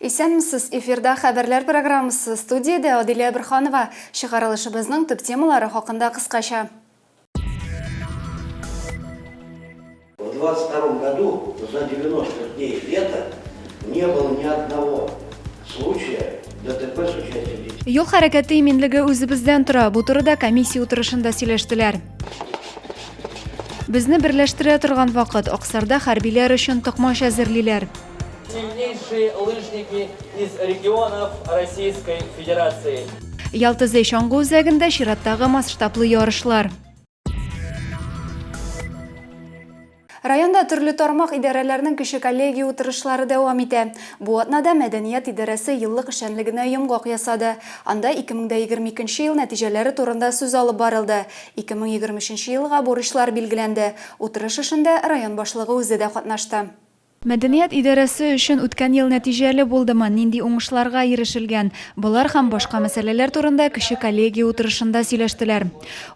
Исәнмесез, эфирда хәбәрләр программасы студиядә Адилә Бирханова. Чыгарылышыбызның төп темалары хакында кыскача. В 22 году за 90 дней лета не было ни одного случая ДТП с участием детей. Юл хәрәкәте иминлеге үзебездән тора. Бу турыда комиссия утырышында сөйләштеләр. Безне берләштерә торган вакыт Аксарда хәрбиләр өчен токмач әзерлиләр. Сильнейшие лыжники из регионов Российской Федерации. Ялтызый чаңгы үзәгендә чираттагы масштаблы ярышлар. Районда төрле тармак идарәләрнең кеше коллегия утырышлары дәвам итә. Бу атнада мәдәният идарәсе еллык эшчәнлегенә йомгак ясады. Анда 2022 ел нәтиҗәләре турында сүз алып барылды. 2023 елга бурычлар билгеләнде. Утырыш эшендә район башлыгы үзе дә катнашты. Мәдәният идарәсе өчен үткән ел нәтиҗәле булдымы, нинди уңышларга ирешелгән? Болар һәм башка мәсьәләләр турында кече коллегия утырышында сөйләштеләр.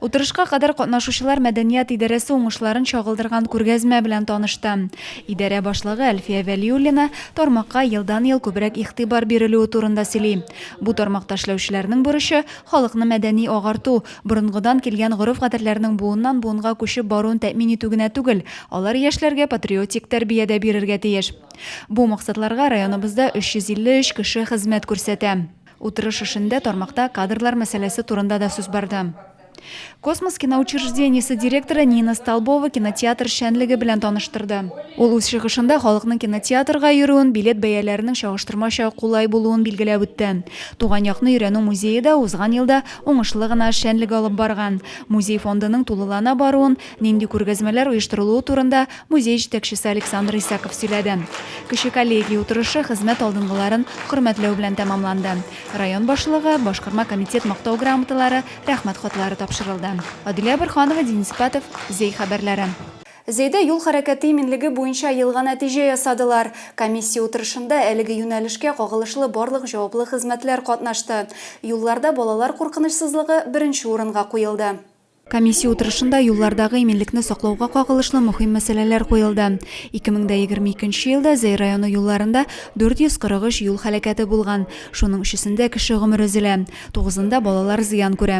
Утырышка кадәр катнашучылар мәдәният идарәсе уңышларын чагылдырган күргәзмә белән танышты. Идарә башлыгы Әлфия Вәлиуллина тармакка елдан-ел күбрәк игътибар бирелүе турында сөйли. Бу тармакта эшләүчеләрнең бурычы, халыкны мәдәни агарту, Борынгыдан килгән гореф-гадәтләрнең буыннан-буынга күчеп баруын тәэмин итү генә түгел, алар яшьләргә патриотик тәрбия дә бирергә тиеш. Бу максатларга районыбызда 353 кеше хезмәт күрсәтә. Утырыш эшендә тармакта кадрлар мәсьәләсе турында да сүз барды. Космос киноучреждениесе директоры Нина Столбова кинотеатр эшчәнлеге белән таныштырды. Ул үз чыгышында халыкның кинотеатрга йөрүен, билет бәяләренең чагыштырмача кулай булуын билгеләп үтте. Туган якны өйрәнү музее да узган елда уңышлы гына эшчәнлек алып барган, музей фондының тулылана баруын, нинди күргәзмәләр оештырылуы турында музей җитәкчесе Александр Исаков сөйләде. Кече коллегия утырышы хезмәт алдынгыларын хөрмәтләү белән тәмамланды. Район башлыгы, башкарма комитет Мактау грамоталары, Рәхмәт хатлары тапшырылды. Аделя Борһанова, Денис Патов, Зәй хәбәрләре. Зәйдә юл хәрәкәте иминлеге буенча елга нәтиҗә ясадылар. Комиссия утырышында әлеге юнәлешкә кагылышлы барлык җаваплы хезмәтләр катнашты. Юлларда балалар куркынычсызлыгы беренче урынга куелды. Комиссия утырышында юллардагы иминлекне саклауга кагылышлы мөһим мәсьәләләр куелды. 2022 нче елда Зәй районы юлларында 443 юл һәлакәте булган, шуның өчесендә кеше гомере өзелә, тугызында балалар зыян күрә.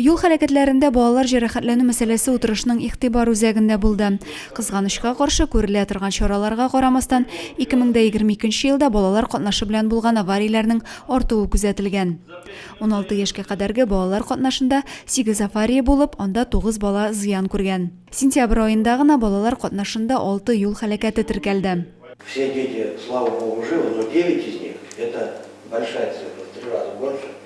Юл хәрәкәтләрендә балалар җәрәхәтләнү мәсьәләсе утырышның игътибар үзәгендә булды. Кызганычка каршы, күрелә торган чараларга карамастан, 2022 нче елда балалар катнашы белән булган аварияләрнең артуы күзәтелгән. 16 яшькә кадәрге балалар катнашында 8 авария булып, анда 9 бала зыян күргән. Сентябрь аенда гына балалар катнашында 6 юл һәлакәте теркәлде. Все дети, слава Богу, живы, но 9 из них, это большая цифра, в три раза больше,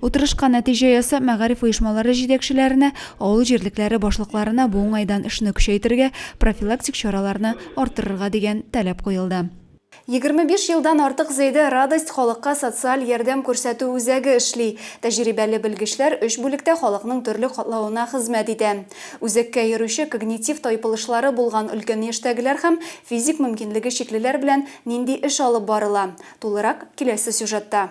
Утырышка нәтиҗә ясап, мәгариф оешмалары җитәкчеләренә, авыл җирлекләре башлыкларына бу уңайдан эшне көчәйтергә, профилактик чараларны арттырырга дигән таләп куелды. Егерме биш елдан артык Зәйдә Радость халыкка социаль ярдәм күрсәтү үзәге эшли. Тәҗрибәле белгечләр өч бүлектә халыкның төрле катлавына хезмәт итә. Үзәккә йөрүче когнитив тайпылышлары булган өлкән яшьтәгеләр һәм физик мөмкинлеге чиклеләр белән нинди эш алып барыла, тулырак, киләсе сюжетта.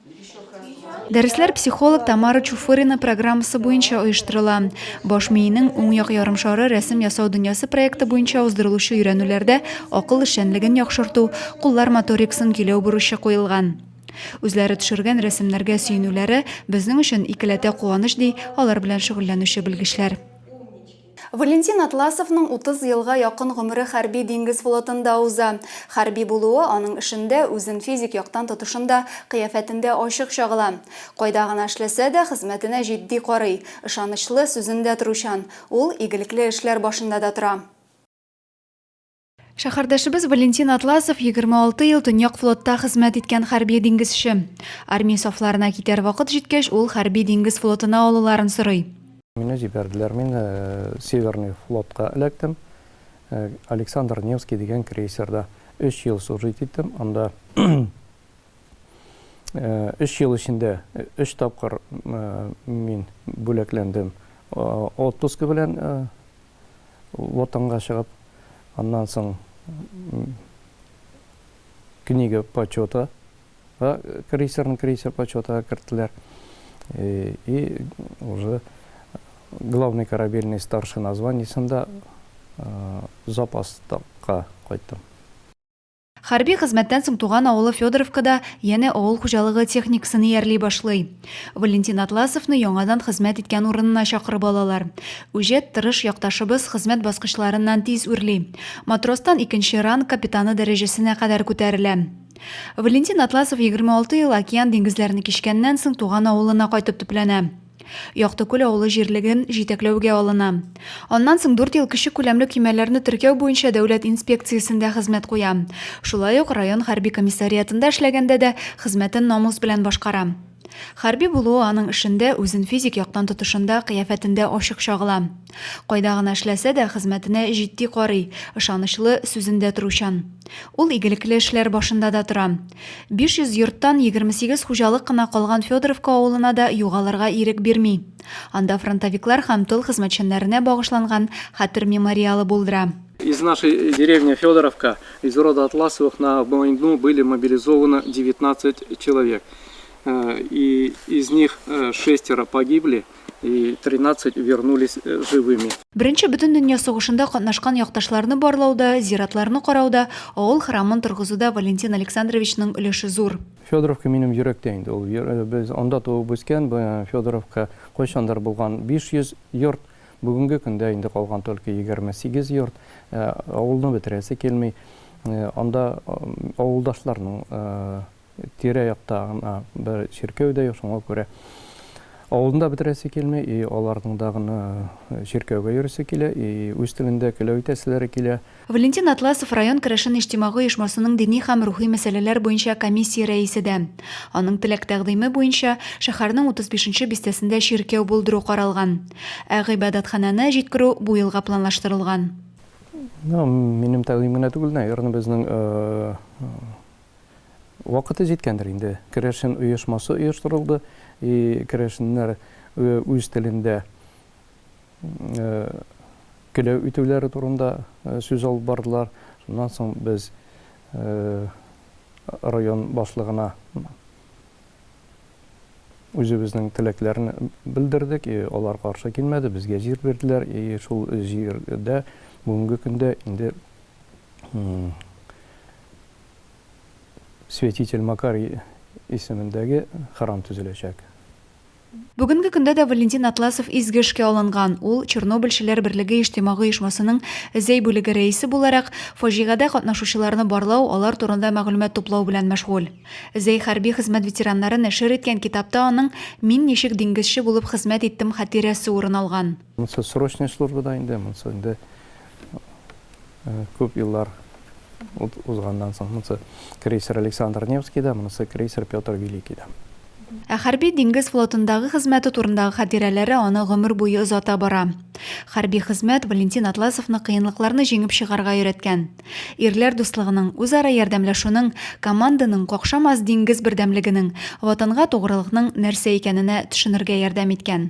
Дәресләр психолог Тамара Чуфырина программасы буенча оештырыла. Баш миенең уң як ярымшары рәсем ясау дөньясы проекты буенча уздырылучы өйрәнүләрдә акыл эшчәнлеген яхшырту, куллар моториксын көйләү бурычы куелган. Үзләре төшергән рәсемнәргә сөенүләре безнең өчен икеләтә куаныч, ди алар белән шөгыльләнүче белгечләр. Валентин Атласовның 30 елга якын гомере хәрби диңгез флотында уза. Хәрби булуы аның эшендә, үзен физик яктан тотышында, кыяфәтендә ачык чагыла. Кайда гына эшләсә дә, хезмәтенә җитди карый, ышанычлы, сүзендә торучан. Ул игелекле эшләр башында да тора. Шәһәрдәшебез Валентин Атласов 26 ел Төньяк флотта хезмәт иткән хәрби диңгезче. Армия сафларына китәр вакыт җиткәч, ул хәрби диңгез флотына алуларын сорый. Мине җибәрделәр, мин Северный флотка эләктем. Александр Невский дигән крейсерда өч ел служить иттем. Анда өч ел эчендә өч тапкыр мин бүләкләндем отпуск белән. Ватанга чыгып, аннан соң книга почета га крейсерның крейсер почетыга керттеләр. И уже главный корабельный старшина званиесында запаска кайттым. Хәрби хезмәттән соң туган авылы Федоровкада янә авыл хуҗалыгы техникасын иярли башлый. Валентин Атласовны яңадан хезмәт иткән урынына чакырып алалар. Үҗәт, тырыш якташыбыз хезмәт баскычларыннан тиз үрли. Матростан икенче ранг капитаны дәрәҗәсенә кадәр күтәрелә. Валентин Атласов 26 ел океан-диңгезләрне кичкәннән соң туган авылына кайтып төпләнә. Яктыкүл авылы җирлеген җитәкләүгә алына. Аннан соң дүрт ел кече күләмле көймәләрне теркәү буенча дәүләт инспекциясендә хезмәт куя. Шулай ук район хәрби комиссариатында эшләгәндә дә хезмәтен намус белән башкара. Хәрби булуы аның эшендә, үзен физик яктан тотышында, кыяфәтендә ачык чагыла. Кайда гына эшләсә дә, хезмәтенә җитди карый, ышанычлы, сүзендә торучан. Ул игелекле эшләр башында да тора. 500 йорттан 28 хуҗалык кына калган Федоровка авылына да югалырга ирек бирми. Анда фронтовиклар һәм тыл хезмәтчәннәренә багышланган хәтер мемориалы булдыра. Из нашей деревни Федоровка, из рода Атласовых на войну были мобилизованы 19 человек. И из них шестеро погибли. и 13 вернулись живыми. Беренче Бөтендөнья сугышында катнашкан якташларны барлауда, зиратларны карауда, авыл храмын торгызуда Валентин Александровичның өлеше зур. Федоровка минем йөрәктә инде ул. Без анда туып үскән, Федоровка кайчандыр булган 500 йорт, бүгенге көндә инде калган только 28 йорт. Авылны бетерәсе килми. Анда авылдашларның тирә-якта гына бер чиркәү дә юк, шуңа күрә авылны да бетерәсе килми, и аларның да гына чиркәүгә йөрисе килә, и үз телендә көләү итәселәре килә. Валентин Атласов район керәшен иҗтимагый оешмасының дини һәм рухи мәсьәләләр буенча комиссия рәисе дә. Аның теләк-тәкъдиме буенча, шәһәрнең 35 бистәсендә чиркәү булдыру каралган. Ә гыйбадәтханәне җиткерү бу елга планлаштырылган. Минем тәкъдим генә түгел, наверное, безнең Вакыты җиткәндер инде. Керәшен оешмасы оештырылды, и керәшеннәр үз телендә келәү итүләре турында сүз алып бардылар. Шуннан соң без район башлыгына үзебезнең теләкләрен белдердек, и алар каршы килмәде, безгә җир бирделәр, и шул җирдә бүгенге көндә инде Святитель Макар исемендәге храм төзеләчәк. Бүгенге көндә дә Валентин Атласов изге эшкә алынган. Ул, Чернобыльчеләр берлеге иҗтимагый оешмасының Зәй бүлеге рәисе буларак, фаҗигадә катнашучыларны барлау, алар турында мәгълүмат туплау белән мәшгуль. Зәй хәрби хезмәт ветераннары нәшер иткән китапта аның Мин ничек диңгезче булып хезмәт иттем хатирәсе урын алган. Монсы срочная служба да инде, монсы инде күп еллар узганнан соң, монысы крейсер Александр Невский да, монысы крейсер Петр Великий да. Ә хәрби диңгез флотындагы хезмәте турындагы хатирәләре аны гомер буе озата бара. Хәрби хезмәт Валентин Атласовны кыенлыкларны җиңеп чыгарга өйрәткән. Ирләр дуслыгының, үзара ярдәмләшүнең, команданың какшамас диңгез бердәмлегенең, ватанга тугрылыкның нәрсә икәненә төшенергә ярдәм иткән.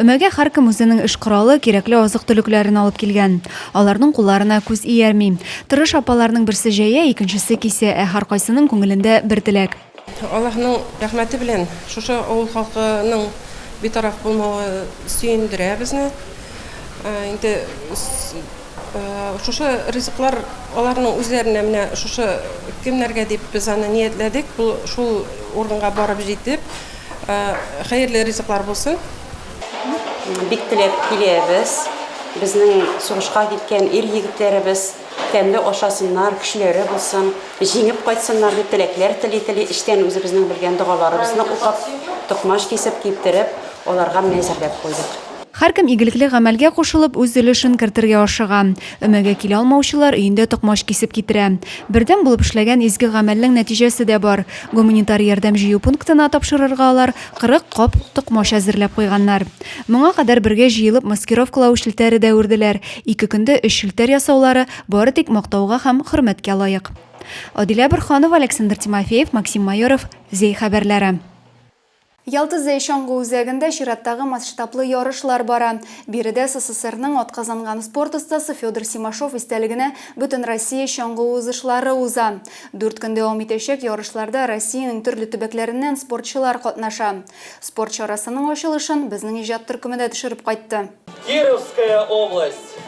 Өмәгә һәркем үзенең эш коралы, кирәкле азык-төлекләрен алып килгән. Аларның кулларына күз иярми. Тырыш апаларның берсе җәя, икенчесе кисә, ә һәркайсының күңелендә бер теләк. Аллаһның рәхмәте белән шушы авыл халкының битараф булмавы сөендерә безне. Инде. Шушы ризыклар аларның үзләренә менә шушы көннәргә дип без аны ниятләдек. Бу шул урынга барып җитеп, хәерле ризыклар булсын. Бик теләп киләбез. Безнең сугышка киткән ир-егетләребез тәмле ашасыннар, көчләре булсын, җиңеп кайтсыннар дип теләкләр тели-тели, эчтән үзебезнең белгән догаларыбызны укып, токмач кисеп, киптереп, аларга менә әзерләп куйдык. Һәркем игелекле гамәлгә кушылып, үз өлешен кертергә ашыга. Өмәгә килә алмаучылар өендә токмач кисеп китерә. Бердәм булып эшләгән изге гамәлнең нәтиҗәсе дә бар. Гуманитар ярдәм җыю пунктына тапшырырга алар 40 кап токмач әзерләп куйганнар. Моңа кадәр бергә җыелып маскировкалау челтәре дә үрделәр. Ике көндә өч челтәр ясаулары бары тик мактауга һәм хөрмәткә лаек. Адилә Борһанова, Александр Тимофеев, Максим Майоров, Зәй хәбәрләре. Ялтызый чаңгы үзәгендә чираттагы масштаблы ярышлар бара. Биредә СССРның атказанган спорт остасы Федор Симашов истәлегенә Бөтенроссия чаңгы узышлары уза. Дүрт көн дәвам итәчәк ярышларда Россиянең төрле төбәкләреннән спортчылар катнаша. Спорт чарасының ачылышын безнең иҗат төркеме дә төшереп кайтты. Кировская область,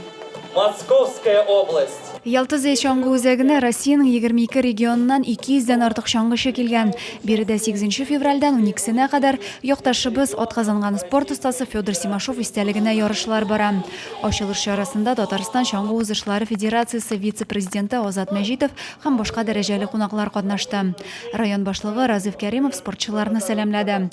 Московская область. Ялтызы чаңгы үзәгенә Россиянең 22 регионыннан 200 дән артык чаңгычы килгән. Биредә 8 февральдән 12-сенә кадәр якташыбыз, атказанган спорт остасы Федор Симашов истәлегенә ярышлар бара. Ачылыш чарасында Татарстан чаңгы узышлары федерациясе вице-президенты Азат Мәҗитов һәм башка дәрәҗәле кунаклар катнашты. Район башлыгы Разыйф Кәримов спортчыларны сәламләде.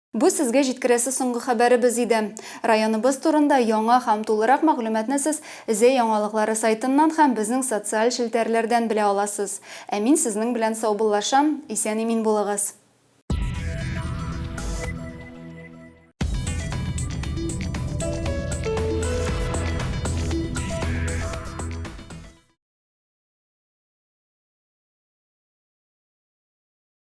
Бу сезгә җиткерәсе соңгы хәбәребез иде. Районыбыз турында яңа һәм тулырак мәгълүматны сез Зәй яңалыклары сайтыннан һәм безнең социаль челтәрләрдән белә аласыз. Ә мин сезнең белән саубуллашам, исән-имин булыгыз!